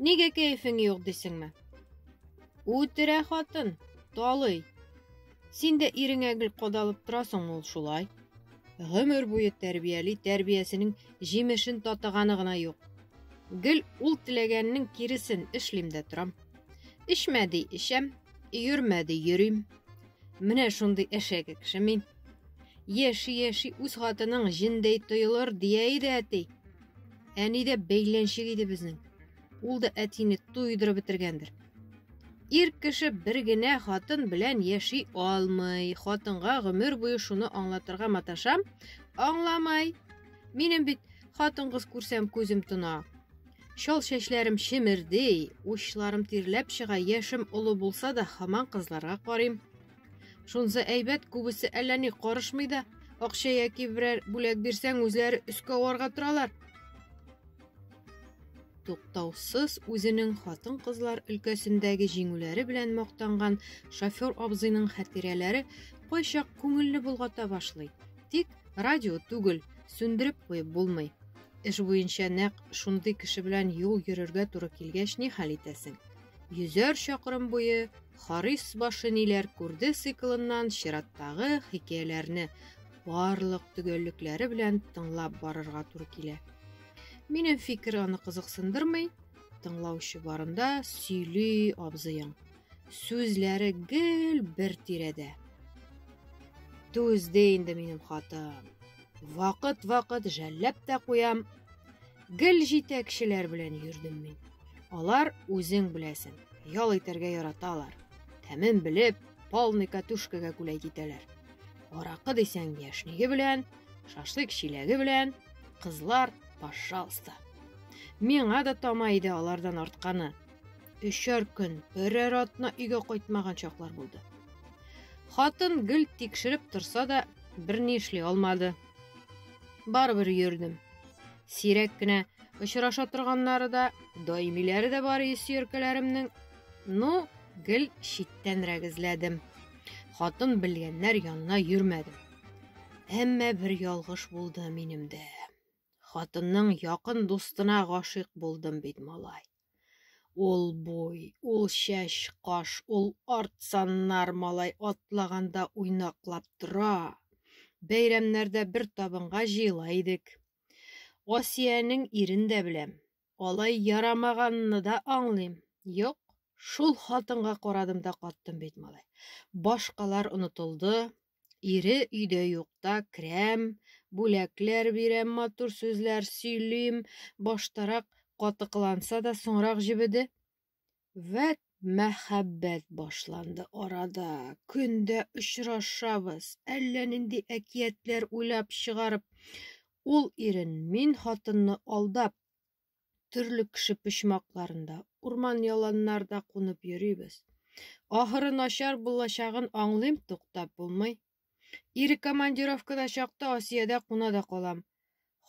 Нигә кәефең юк дисеңме? Үтерә хатын, талый. Син дә иреңә гел кадалып торасың ул шулай. Гомер буе тәрбияли, тәрбиясенең җимешен татыганы гына юк. Гел ул теләгәннең киресен эшлим дә торам. Эчмә ди, эчәм, йөрмә ди, йөрим. Менә шундый әшәке кеше мин. Яши-яши үз хатының җендәй тоелыр, дия иде әти. Әни дә бәйләнчек иде безнең. Ул да әтине туйдырып бетергәндер. Ир кеше бер генә хатын белән яши алмый. Хатынга гомер буе шуны аңлатырга маташам, аңламай. Минем бит хатын-кыз күрсәм күзем тона. Шол чәчләрем шемердей, учларым тирләп чыга, яшем олы булса да, хаман кызларга карыйм. Шунсы әйбәт, күбесе әллә ни карышмый да, акча яки берәр бүләк бирсәң, үзләре өскә аварга торалар. Туктаусыз үзенең хатын-кызлар өлкәсендәге җиңүләре белән мактанган шофер абзыйның хатирәләре кайчак күңелне болгата башлый. Тик радио түгел, сүндереп куеп булмый. Эш буенча нәкъ шундый кеше белән юл йөрергә туры килгәч, ни хәл итәсең? Йөзәр чакрым буе Харис башы ниләр күрде циклыннан чираттагы хикәяләрне барлык төгәллекләре белән тыңлап барырга туры килә. Минем фикер аны кызыксындырмый, тыңлаучы барында сөйли абзыең. Сүзләре гел бер тирәдә. Түзде инде минем хатын. Вакыт-вакыт жәлләп тә куям. Гел җитәкчеләр белән йөрдем мин. Алар үзең беләсең, ял итәргә яраталар. Тәмен белеп, полный катушкага күләй китәләр. Аракы дисәң яшниге белән, шашлык чиләге белән, кызлар, пожалуйста. Миңа да тама иде алардан артканы. Өчәр көн, берәр атна өйгә кайтмаган чаклар булды. Хатын гел тикшереп торса да, берни эшли алмады. Барыбер йөрдем. Сирәк кенә очраша торганнары да, даимиләре дә бар исеркәләремнең. Ну, гел читтән рәгезләдем. Хатын белгәннәр янына йөрмәдем. Әмма бер ялгыш булды минем дә. Хатынның якын дустына гашыйк булдым бит, малай. Ул буй, ул чәч, каш, ул арт саннар малай атлаганда уйнаклап тора. Бәйрәмнәрдә бер табынга җыела идек. Асиянең ирен дә беләм. Алай ярамаганны да аңлыйм. Юк, шул хатынга карадым да каттым бит, малай. Башкалар онытылды, Ире өйдә юкта керәм, бүләкләр бирәм, матур сүзләр сөйлим. Баштарак катыкланса да, соңрак җебеде. Вәт мәхәббәт башланды арада. Көндә очрашабыз. Әллә нинди әкиятләр уйлап чыгарып, ул ирен, мин хатынны алдап, төрле кеше почмакларында, урман яланнарда кунып йөрибез. Ахыры начар булачагын аңлыйм, туктап булмый. Ире командировкада чакта Асиядә куна да калам.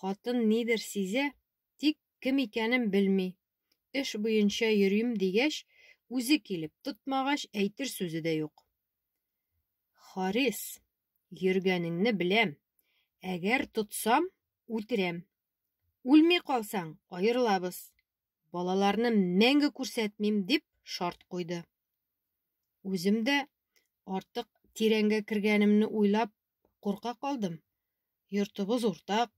Хатын нидер сизә, тик кем икәнен белми. Эш буенча йөрим дигәч, үзе килеп, тотмагач әйтер сүзе дә юк. Харис, йөргәнеңне беләм. Әгәр тотсам, үтерәм. Үлми калсаң, аерылабыз. Балаларны мәңге күрсәтмим, дип шарт куйды. Үзем дә артык тирәнгә кергәнемне уйлап курка калдым. Йортыбыз уртак,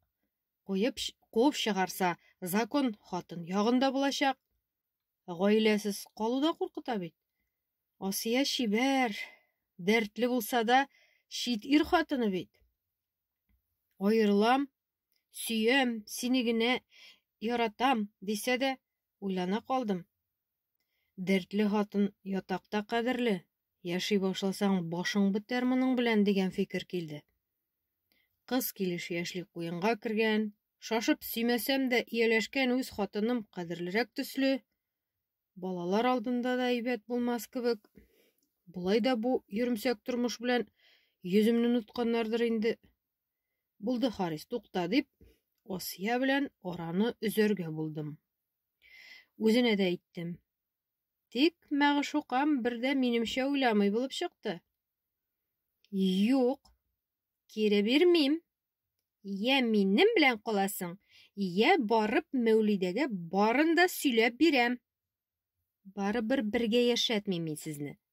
куеп куып чыгарса, закон хатын ягында булачак. Гаиләсез калу да куркыта бит. Асия чибәр, дәртле булса да, чит ир хатыны бит. Аерылам, Сөям, сине генә яратам, дисә дә, уйлана калдым. Дәртле хатын ятакта кадерле, яши башласаң, башың бетәр моның белән дигән фикер килде. Кыз килеш яшьли куенга кергән, шашып сөймәсәм дә ияләшкән үз хатыным кадерлерәк төсле, балалар алдында да әйбәт булмас кебек. Болай да бу йөрмсәк тормыш белән йөземне нотканнардыр инде. Булды, Харис, тукта, дип, Асия белән араны өзәргә булдым. Үзенә дә әйттем. Тик мәгъшукам бердә минемчә уйламый булып чыкты. Юк, кире бирмим. Йә минем белән каласың, йә барып Мәүлидәгә барын да сөйләп бирәм. Барыбер бергә яшәтмим мин сезне.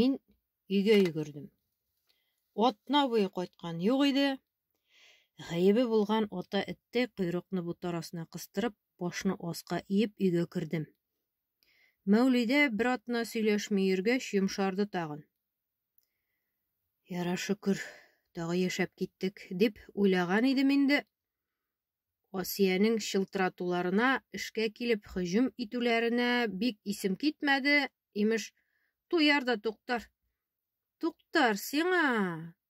мин өйгә йөгердем. Атна буе кайткан юк иде. Гаебе булган ата этте койрыкны бутар астына кыстырып, башны аска иеп өйгә кердем. Мәүлидә бер атна сөйләшми йөргәч, йомшарды тагын. Яра шөкер, тагы яшәп киттек, дип уйлаган идем инде. Асиянең чылтыратуларына, эшкә килеп һөҗүм итүләренә бик исем китмәде, имеш, туяр да туктар. Туктар, сиңа!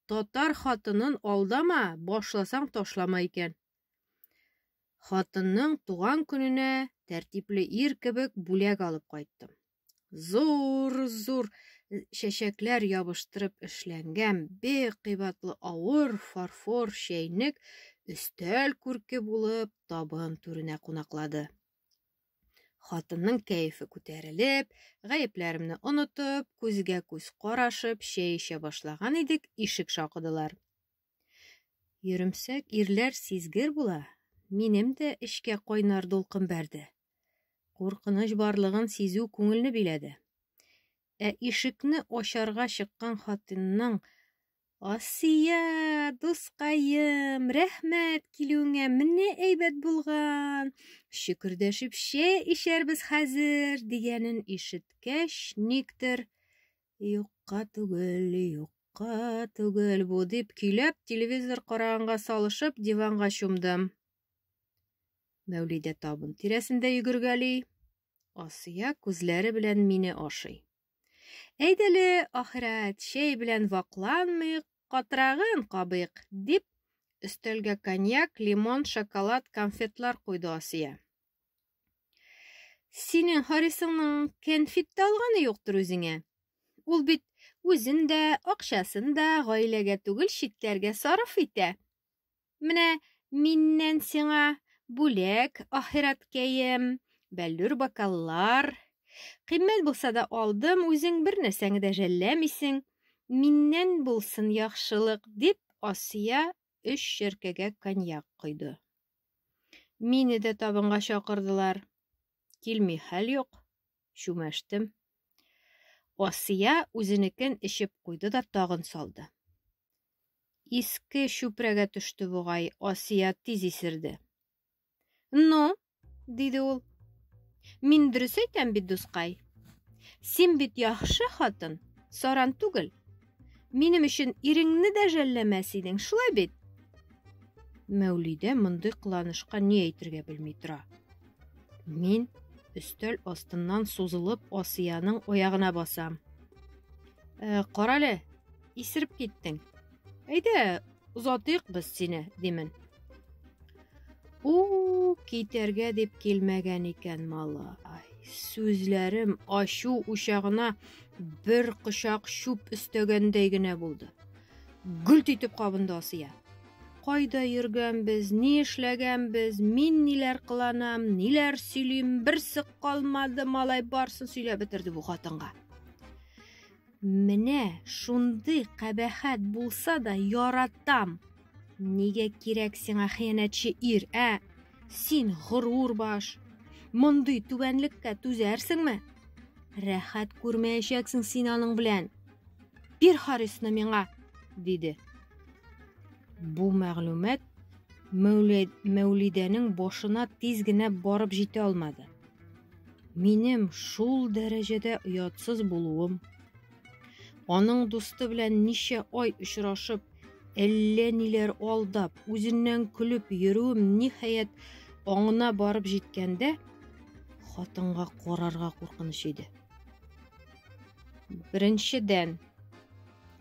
Татар хатынын алдама, башласаң ташлама икән. Хатынның туган көненә тәртипле ир кебек бүләк алып кайттым. зур-зур чәчәкләр ябыштырып эшләнгән бик кыйбатлы авыр фарфор чәйнек өстәл күрке булып табын түренә кунаклады. Хатынның кәефе күтәрелеп, гаепләремне онытып, күзгә күз карашып, чәй эчә башлаган идек, ишек шакыдылар. Йөремсәк ирләр сизгер була. Минем дә эшкә кайнар дулкын бәрде. Куркыныч барлыгын сизү күңелне биләде. Ә ишекне ачарга чыккан хатынның Асия, дускаем, рәхмәт килүеңә, менә әйбәт булган. Шөкердәшеп чәй эчәрбез хәзер, дигәнен ишеткәч, никтер юкка түгел, юк Юкка түгел бу, дип көйләп, телевизор караганга салышып, диванга чумдым. Мәүлидә табын тирәсендә йөгергәли. Асия күзләре белән мине ашый. Әйдәле, ахирәт, чәй белән вакланмыйк, катрагын кабыйк, дип, өстәлгә коньяк, лимон, шоколад, конфетлар куйды Асия. Синең Харисыңның конфет тә алганы юктыр үзеңә. Ул бит үзен дә, акчасын да гаиләгә түгел, читләргә сарыф итә. Менә миннән сиңа бүләк ахирәткәем, бәллүр бокаллар. Кыйммәт булса да алдым, үзең бер нәрсәңне дә жәлләмисең. Миннән булсын яхшылык, дип Асия өч шеркәгә коньяк койды. Мине дә табынга чакырдылар. Килми хәл юк, чүмәштем. Асия үзенекен эчеп куйды да тагын салды. Иске чүпрәгә төште бугай, Асия тиз исерде. Ну, диде ул. Мин дөрес әйтәм бит, дускай. Син бит яхшы хатын, саран түгел. Минем өчен иреңне дә жәлләмәс идең, шулай бит? Мәүлидә мондый кыланышка ни әйтергә белми тора. Мин өстәл астыннан сузылып Асияның оягына басам. Э, карале, исереп киттең. Әйдә, Озатыйк без сине, димен. У, китәргә дип килмәгән икән малай. Сүзләрем ачу учагына бер кочак чүп өстәгәндәй генә булды. Гүлт итеп кабынды Асия. Кайда йөргәнбез, ни эшләгәнбез, мин ниләр кыланам, ниләр сөйлим, берсе калмады, малай барсын сөйләп бетерде бу хатынга. Менә шундый кабәхәт булса да яратам. Нигә кирәк сиңа хыянәтче ир, ә? Син горур баш. Мондый түбәнлеккә түзәрсеңме? Рәхәт күрмәячәксең син аның белән. Бир Харисны миңа, диде. Бу мәгълүмат Мәүлидәнең башына тиз генә барып җитә алмады. Минем шул дәрәҗәдә оятсыз булуым, аның дусты белән ничә ай очрашып, әллә ниләр алдап, үзеннән көлеп йөрүем ниһаять аңына барып җиткәндә, хатынга карарга куркыныч иде. Беренчедән,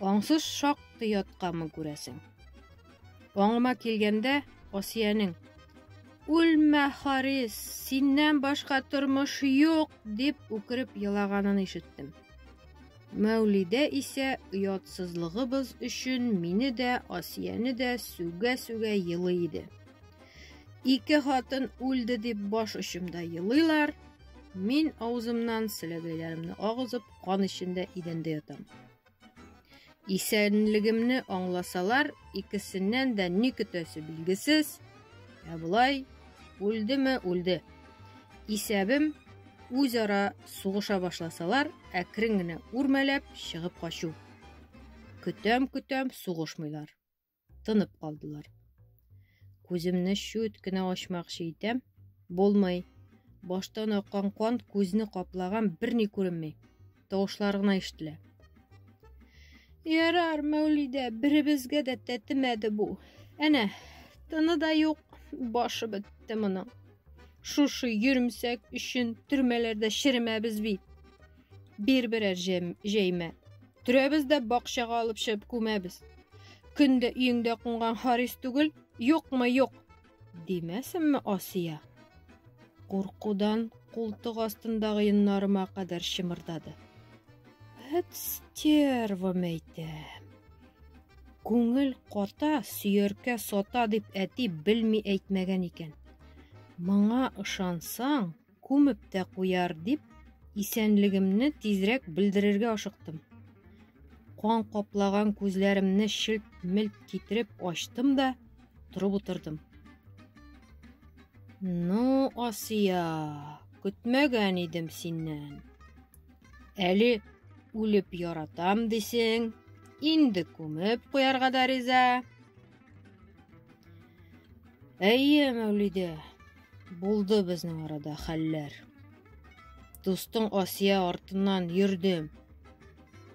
Аңсыз шактый ятканмын күрәсең. Аңыма килгәндә Асиянең Үлмә, Харис, синнән башка тормыш юк, дип үкереп елаганын ишеттем. Мәүлидә исә оятсызлыгыбыз өчен мине дә, Асияне дә сүгә-сүгә елый иде. Ике хатын үлде дип баш очымда елыйлар. Мин авызымнан селәгәйләремне агызып, кан эчендә идәндә ятам. Исәнлегемне аңласалар, икесеннән дә ни көтәсе билгесез. Ә болай үлдеме, үлде. Исәбем үзара сугыша башласалар, әкрен генә үрмәләп чыгып качу. Көтәм-көтәм сугышмыйлар. тынып калдылар. Күземне шүт кенә ачмакчы итәм, булмый. Баштан аккан кан күзне каплаган берни күренми. Тавышлар гына ишетелә. Ярар, Мәүлидә, беребезгә дә тәтемәде бу. Әнә, тыны да юк, башы бетте моның. Шушы йөрмсәк өчен төрмәләрдә черемәбез бит. Бир берәр җәймә. Төрәбез дә бакчага алып чыгып күмәбез. Көндә өеңдә кунган Харис түгел, юкмы юк. Димәсенме Асия? Куркудан култык астындагы йоннарыма кадәр чымырдады. Һәт стерва мәйтә. Күңел кота, сөяркә сота дип әти белми әйтмәгән икән. Моңа ышансаң, Күмеп тә куяр дип, исәнлегемне тизрәк белдерергә ашыктым. Кан каплаган күзләремне шелт-мелт китереп ачтым да, торып утырдым. Ну, Асия, көтмәгән идем синнән. Әле үлеп яратам дисең, инде күмеп куярга да риза. Әйе, Мәүлидә, булды безнең арада хәлләр. Дустың Асия артыннан йөрдем.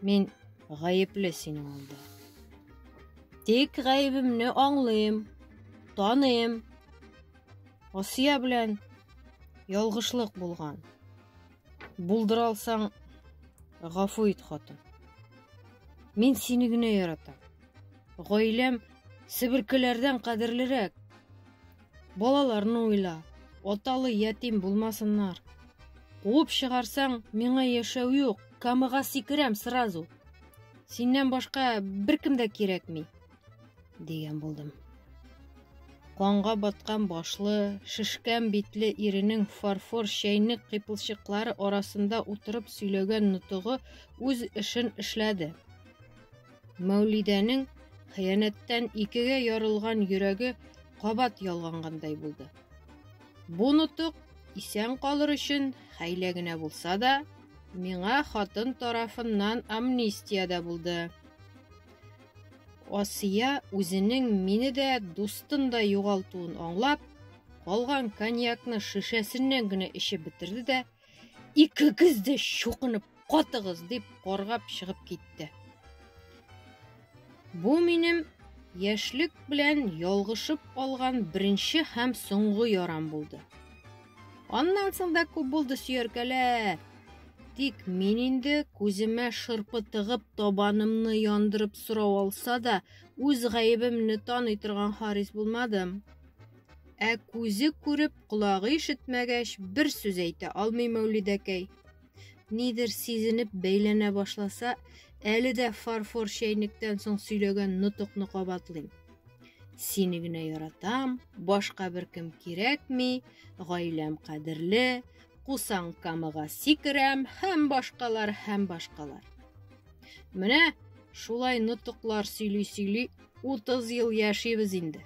Мин гаепле синең алда. Тик гаебемне аңлыйм, таныйм. Асия белән ялгышлык булган. Булдыра алсаң, гафу ит, хатын. Мин сине генә яратам. Гаиләм себеркеләрдән кадерлерәк. Балаларны уйла, аталы ятим булмасыннар. Куып чыгарсаң, миңа яшәү юк, камыга сикерәм сразу. Синнән башка беркем дә кирәкми, дигән булдым. Канга баткан башлы, шешкән битле иренең фарфор чәйнек кыйпылчыклары арасында утырып сөйләгән нутыгы үз эшен эшләде. Мәүлидәнең хыянәттән икегә ярылган йөрәге кабат ялгангандай булды. Бу нотык исән калыр өчен хәйлә генә булса да, миңа хатын тарафыннан амнистия дә булды. Асия үзенең мине дә, дустын да югалтуын аңлап, калган коньякны шешәсеннән генә эчеп бетерде дә, икегез дә чукынып катыгыз дип каргап чыгып китте бу минем яшьлек белән ялгышып алган беренче һәм соңгы ярам булды аннан соң да күп булды сөяркәләр тик мин инде күземә шырпы тыгып табанымны яндырып сорау алса да үз гаебемне таный торган харис булмадым Ә күзе күреп, колагы ишетмәгәч, бер сүз әйтә алмый Мәүлидәкәй. Нидер сизенеп бәйләнә башласа, әле дә фарфор чәйнектән соң сөйләгән нотыкны кабатлыйм. Сине генә яратам, башка бер кем кирәкми, гаиләм кадерле, кусаң камыга сикерәм, һәм башкалар, һәм башкалар. Менә шулай нотыклар сөйли-сөйли 30 ел яшибез инде.